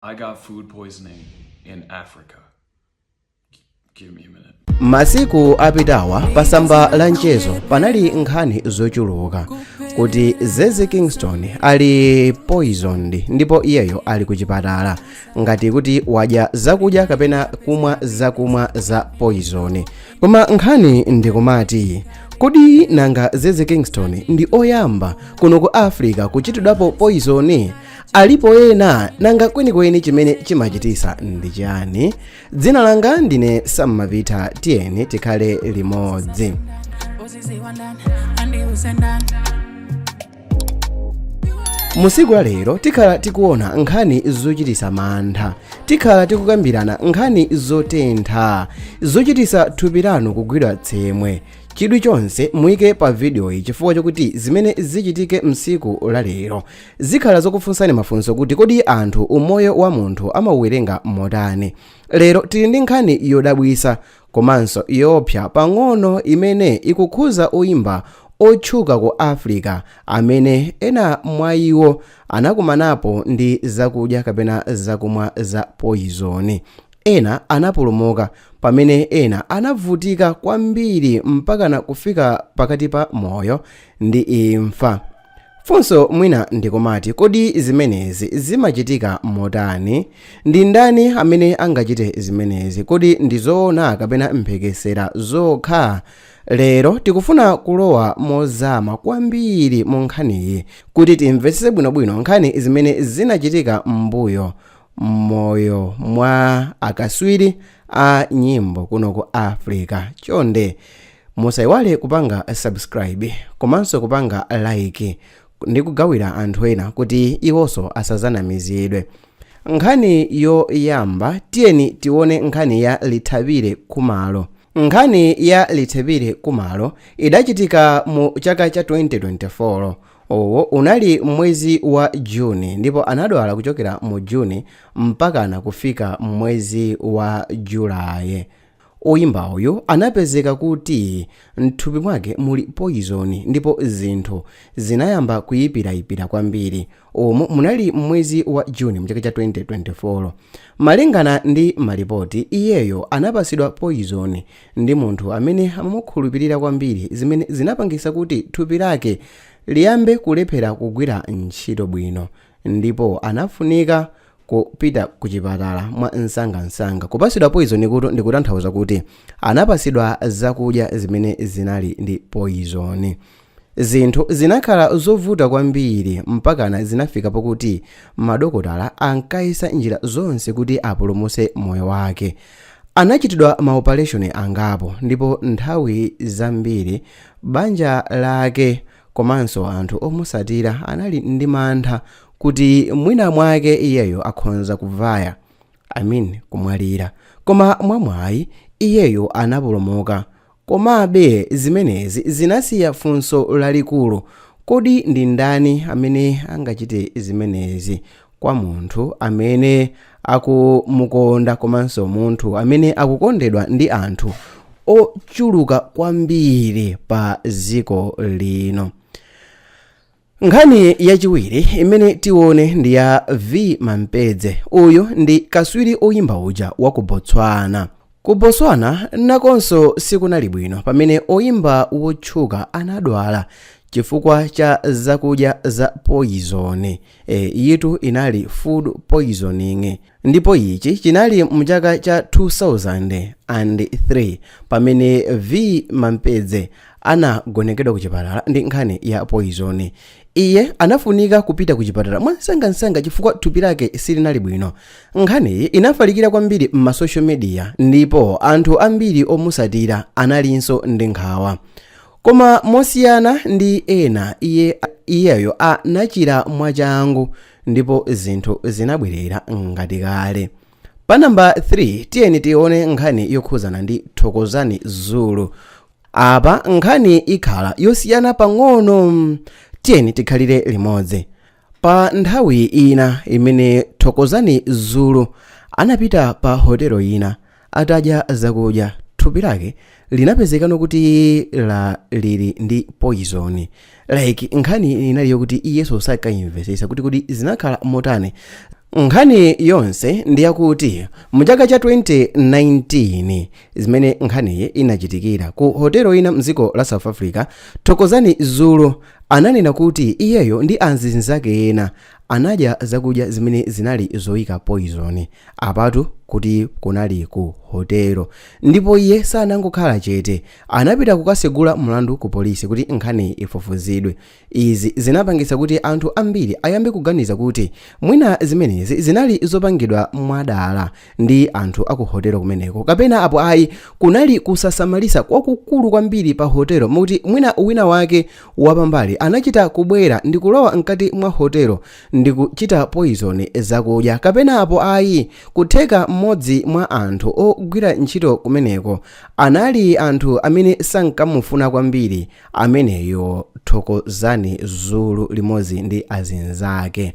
I got food poisoning in Africa. Give me a minute. masiku apitawa pa tsamba la mchezo panali nkhani zochuluka kuti zeze kingston ali poisoned ndipo iyeyo ali kuchipatala ngati kuti wadya zakudya kapena kumwa zakumwa za poison koma nkhani ndikumati kodi nanga zeze kingston ndi oyamba kuno ku africa kuchitidwapo poison alipo ena nanga kwenikweni chimene chimachitisa ndi chiyani dzina langa ndine sammapita tiyeni tikhale limodzi mu tsiku la lero tikhala tikuona nkhani zochitisa mantha tikhala tikukambirana nkhani zotentha zochitisa thupi lanu kugwidwa tsemwe chidwi chonse muyike pa vidiyoyi chifukwa chokuti zimene zichitike mtsiku la lero Zikhala zokufunsani mafunso kuti kodi anthu umoyo wa munthu amauwerenga motani. Lero tili ndi nkhani yodabwisa komanso yoopsa pang'ono imene ikukhuza oyimba otchuka ku Africa amene ena mwa iwo anakumanapo ndi zakudya kapena zakumwa za poyizoni. Ena anapulumuka pamene ena anavutika kwambiri mpakana kufika pakati pa moyo ndi imfa. Funso mwina ndikumati kodi zimenezi zimachitika motani? Ndi ndani amene angachite zimenezi? Kodi ndi zoona kapena mphekesera zokha? Lero tikufuna kulowa mozama kwambiri mu nkhaniyi kuti timvetsetse bwinobwino nkhani zimene zinachitika m'mbuyo mmoyo mwa akaswiri a nyimbo kuno ku africa chonde musayiwale kupanga subscribe komanso kupanga like ndi kugawira anthu ena kuti iwonso asazanamizidwe nkhani yoyamba tiyeni tione nkhani ya lethabile khumalo nkhani ya lethabile khumalo idachitika mu chaka cha 2024 Uwu unali mmwezi wa June ndipo anadwala kuchokera mu June mpakana kufika mwezi wa July. Oyimba uyu anapezeka kuti mthupi mwake muli poyizoni ndipo zinthu zinayamba kuyipirayipira kwambiri. Umu munali mmwezi wa June mchaka cha 2024. Malingana ndi malipoti, iyeyo anapasidwa poyizoni ndi munthu amene amamukhulupirira kwambiri zimene zinapangitsa kuti thupi lake liyambe kulephera kugwira ntchito bwino ndipo anafunika kupita ku chipatala mwa msangamsanga kupatsidwa poizoni uku ndikutanthauza kuti anapatsidwa zakudya zimene zinali ndi poizoni Zinthu zinakhala zovuta kwambiri mpakana zinafika pokuti madokotala ankayesa njira zonse kuti apulumutse moyo wake. Anachitidwa maopareshoni angapo ndipo nthawi zambiri banja lake komanso anthu omutsatira anali ndi mantha kuti mwinamwake iyeyo akhonza kuvaya, I mean kumwalira. Koma mwamwayi, iyeyo anapulumuka Komabe, zimenezi zinasiya funso lalikulu, Kodi ndi ndani amene angachite zimenezi kwa munthu amene akumukonda komanso munthu amene akukondedwa ndi anthu ochuluka kwambiri padziko lino? Nkhani yachiwiri imene tione ndi ya Vee Mampeezy. Uyu ndi kaswiri oyimba uja wa ku Botswana. Ku Botswana nakonso sikunali bwino pamene oyimba wotchuka anadwala chifukwa cha zakudya za poyizoni. E, iyitu inali food poisoning ndipo ichi chinali mu chaka cha 2023 pamene Vee Mampeezy anagonekedwa ku chipatala ndi nkhani ya poizoni iye anafunika kupita ku chipatala mwamsangamsanga chifukwa thupi lake silinali bwino nkhaniyi inafalikira kwambiri m'masocial media ndipo anthu ambiri omusatira analinso ndi nkhawa koma mosiyana ndi ena iye iyeyo anachira mwachangu ndipo zinthu zinabwerera ngati kale pa namba 3 tiyeni tione nkhani yokhuzana ndi thokozani zulu apa nkhani ikhala yosiyana pang'ono tiyeni tikhalire limodzi pa nthawi ina imene thokozani zulu anapita pa hotelo ina atadya zakudya thupi lake linapezekano kuti la lili ndi poyizoni like nkhani inali yokuti iyeso sakayimvesesa kuti kodi zinakhala motani nkhani yonse ndi yakuti mu chaka cha 2019 zimene nkhaniyi inachitikira ku hotelo ina mdziko la south africa thokozani zulu ananena kuti iyeyo ndi anzinzake ena Anadya zakudya zimene zinali zoyika poizoni, apatu kuti kunali ku hotelo. Ndipo iye sanangokhala chete. Anapita kukasegula mlandu ku polisi kuti nkhaniyi ifufuzidwe. Izi zinapangitsa kuti anthu ambiri ayambe kuganiza kuti mwina zimenezi zinali zopangidwa mwadala. ndi anthu aku hotelo kumeneko kapena apo ayi kunali kusasamalisa kwakukulu kwambiri pa hotelo mokuti mwina wina wake wapambali anachita kubwera ndi kulowa mkati mwa hotelo ndi kuchita poizoni zakudya kapena apo ayi kutheka mmodzi mwa anthu ogwira ntchito kumeneko anali anthu amene sankamufuna kwambiri ameneyo thokozani zulu limodzi ndi azinzake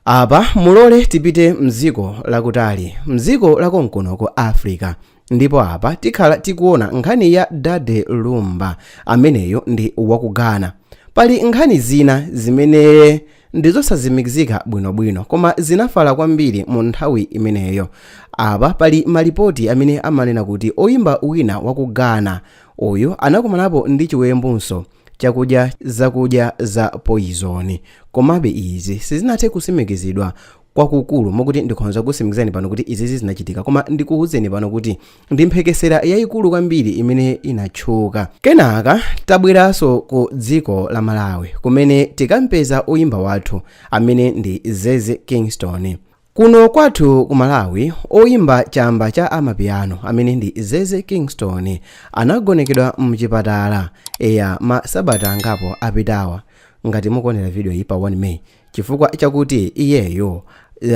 Apa mulole tipite mdziko lakutali, mdziko la konkuno ku Africa. Ndipo apa tikhala tikuona nkhani ya Daddy Lumba, ameneyu ndi waku Ghana. Pali nkhani zina zimene ndizosazimikizika bwinobwino, koma zinafala kwambiri mu nthawi imeneyo. Apa pali malipoti amene amanena kuti oyimba wina waku Ghana uyu anakumanapo ndi chiwembunso chakudya zakudya za poyizoni. Komabe, izi sizinathe kusimikizidwa kwakukulu mokuti ndikhonza kusimikizani pano kuti izizi zinachitika, koma ndikuwuzeni pano kuti ndi mphekesera yayikulu kwambiri imene inatchuka. Kenaka tabweranso ku dziko la Malawi kumene tikampeza oyimba wathu amene ndi Zeze Kingston. Kuno kwathu ku Malawi oyimba chamba cha amapiano amene ndi Zeze Kingston anagonekedwa mchipatala eya masabata angapo apitawa ngati mukuonera videoyi pa 1 May chifukwa chakuti iyeyo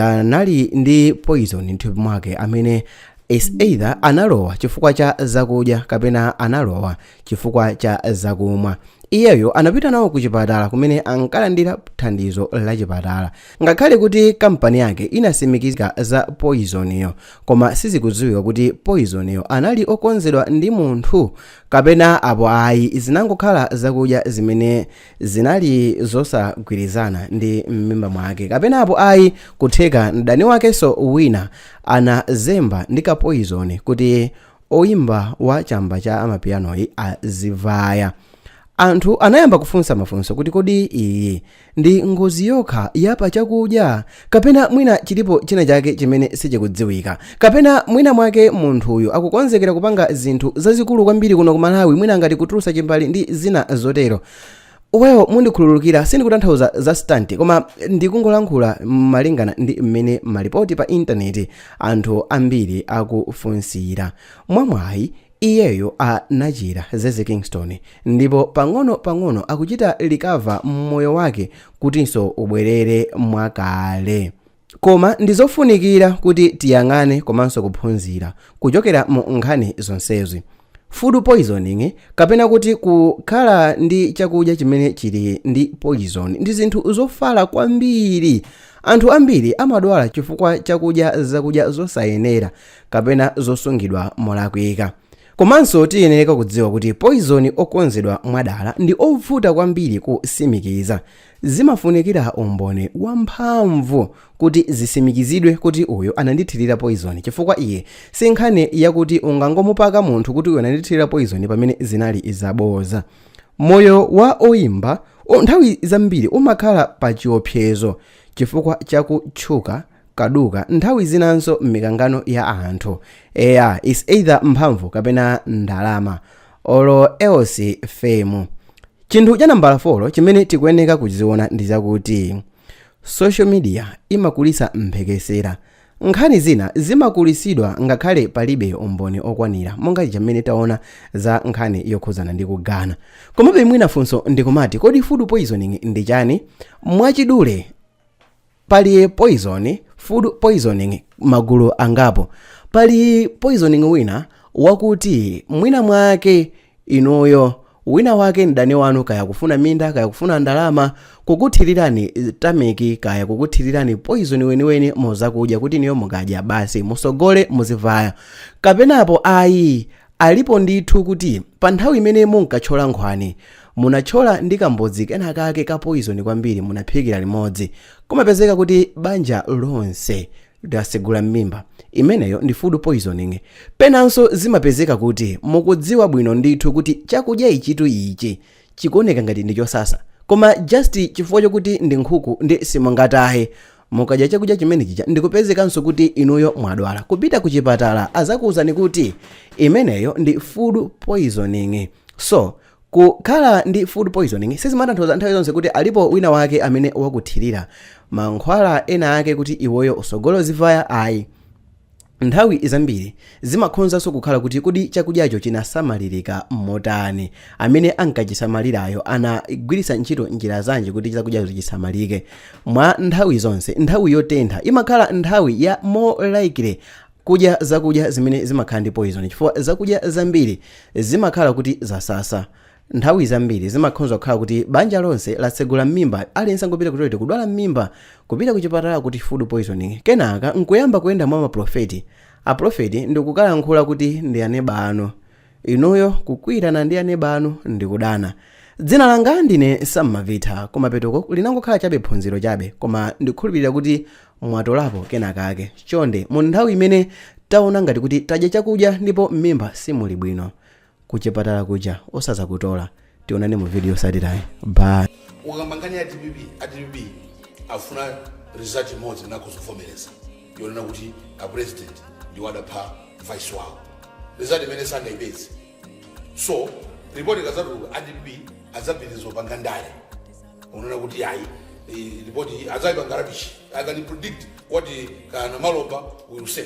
anali ndi poison mthupi mwake amene is either analowa chifukwa cha zakudya kapena analowa chifukwa cha zakumwa. Iyeyo anapita nawo ku chipatala kumene ankalandira thandizo la chipatala. Ngakhale kuti kampani yake inasimikiza za poizoniyo, koma sizikudziwika kuti poizoniyo anali okonzedwa ndi munthu kapena apo ayi zinangokhala zakudya zimene zinali zosagwirizana ndi m'mimba mwake kapena apo ayi kutheka mdani wakenso wina anazemba ndi kapoizoni kuti oyimba wa chamba cha amapianoyu azivaya anthu anayamba kufunsa mafunso kuti kodi iyi ndi ngozi yokha yapa chakudya kapena mwina chilipo china chake chimene sichikudziwika kapena mwina mwake munthuyu akukonzekera kupanga zinthu zazikulu kwambiri kuno ku malawi mwina ngati kutulusa chimbale ndi zina zotero well mundikhululukire sindikutanthauza za stunt koma ndikungolankhula malingana ndi mmene malipoti pa intaneti anthu ambiri akufunsira mwamwayi iyeyo anachira zeze kingston ndipo pang'ono pang'ono akuchita recover moyo wake kutinso ubwerere mwakale Koma ndi zofunikira kuti tiyang'ane komanso kuphunzira kuchokera mu nkhani zonsezi. Food poisoning kapena kuti kukhala ndi chakudya chimene chili ndi poison ndi zinthu zofala kwambiri. Anthu ambiri amadwala chifukwa cha kudya zakudya zosayenera kapena zosungidwa molakwika. Komanso tiyeneka kudziwa kuti poison okonzedwa mwadala ndi ovuta kwambiri kusimikiza. Zimafunikira umboni wamphamvu kuti zisimikizidwe kuti uyo anandithirira poizoni, chifukwa iyi si nkhani yakuti ungangomupaka munthu kuti uyo anandithirira poizoni pamene zinali zabodza. Moyo wa oimba nthawi zambiri umakhala pachiwopsezo chifukwa cha kutchuka. kaduka nthawi zinanso m'mikangano ya anthu eya is either mphamvu kapena ndalama olo else fame chinthu cha nambala 4 chimene tikuyeneka kuziona ndi chakuti social media imakulisa mphekesera nkhani zina zimakulisidwa ngakhale palibe umboni okwanira monga muja mmene taona za nkhani yokhuzana ndi kugana komabe mwina funso ndikumati kodi food poisoning ndi chani mwachidule pali poison food poisoning magulu angapo pali poisoning wina wakuti mwina mwake inuyo wina wake mdani wanu kaya kufuna minda kaya kufuna ndalama kukuthirirani tameki kaya kukuthirirani poison weniweni muzakudya kuti inuyo mukadya basi musogole muzivaya kapenapo ayi Alipo ndithu kuti pa nthawi imene munkatchola nkhwani, munatchola ndi kamudzi kenakake ka poizoni kwambiri munaphikira limodzi, kumapezeka kuti banja lonse lasegula m'mimba. Imeneyo ndi food poisoning. Penanso zimapezeka kuti mukudziwa bwino ndithu kuti chakudya ichitu ichi chikuoneka ngati ndi chosasa koma just chifukwa chokuti ndi nkhuku ndi simungataye mukadya chakudya chimene chija ndikupezekanso kuti inuyo mwadwala kupita ku chipatala azakuwuzani kuti imeneyo ndi food poisoning so kukhala ndi food poisoning sizimatanthauza nthawi zonse kuti alipo wina wake amene wakuthirira mankhwala ena ake kuti iweyo usogole uzivaya ayi Nthawi zambiri zimakhonzanso kukhala kuti kodi chakudyacho chinasamalirika motani, amene ankachisamalirayo anagwiritsa ntchito njira zanji kuti chakudyacho chisamalike. Mwa nthawi zonse, nthawi yotentha imakhala nthawi ya more likely kudya zakudya zimene zimakhala ndi poyizoni chifukwa zakudya zambiri zimakhala kuti zasasa. Nthawi zambiri zimakhonza kukhala kuti banja lonse latsegula mmimba aliyense angopita ku toilet kudwala mmimba kupita kuchipatala kuti food poisoning kenaka nkuyamba kuyenda mwa maprofeti aprofeti ndikukalankhula kuti ndi aneba anu inuyo kukwiirana ndi aneba anu ndikudana. Dzina langa ndine Sam Mavitha kumapetoku linangokhala chabe phunziro chabe koma ndikukhulupirira kuti mwatolapo kenakake chonde mu nthawi imene taona ngati kuti tadya chakudya ndipo mmimba simuli bwino kuchipatala kuja osazakutola tionana mu video yotsatirayi bye ukakamba nkhani ya dpp a dpp afuna result imodzi imene akuzavomereza yonena kuti a president ndiwo adapha vice wawo result imene sangayipeze so ripoti ikadzatuluka a dpp adzapitiriza kupanga ndale kunena kuti ayi eh, ripoti adzaipanga rubbish i can predict what Kananji Malopa will say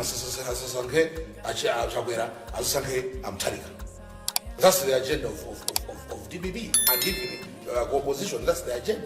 asasankhe achakwera asasankhe amthalika that's the agenda of, of, of, of, of dpp and even uh, opposition that's the agenda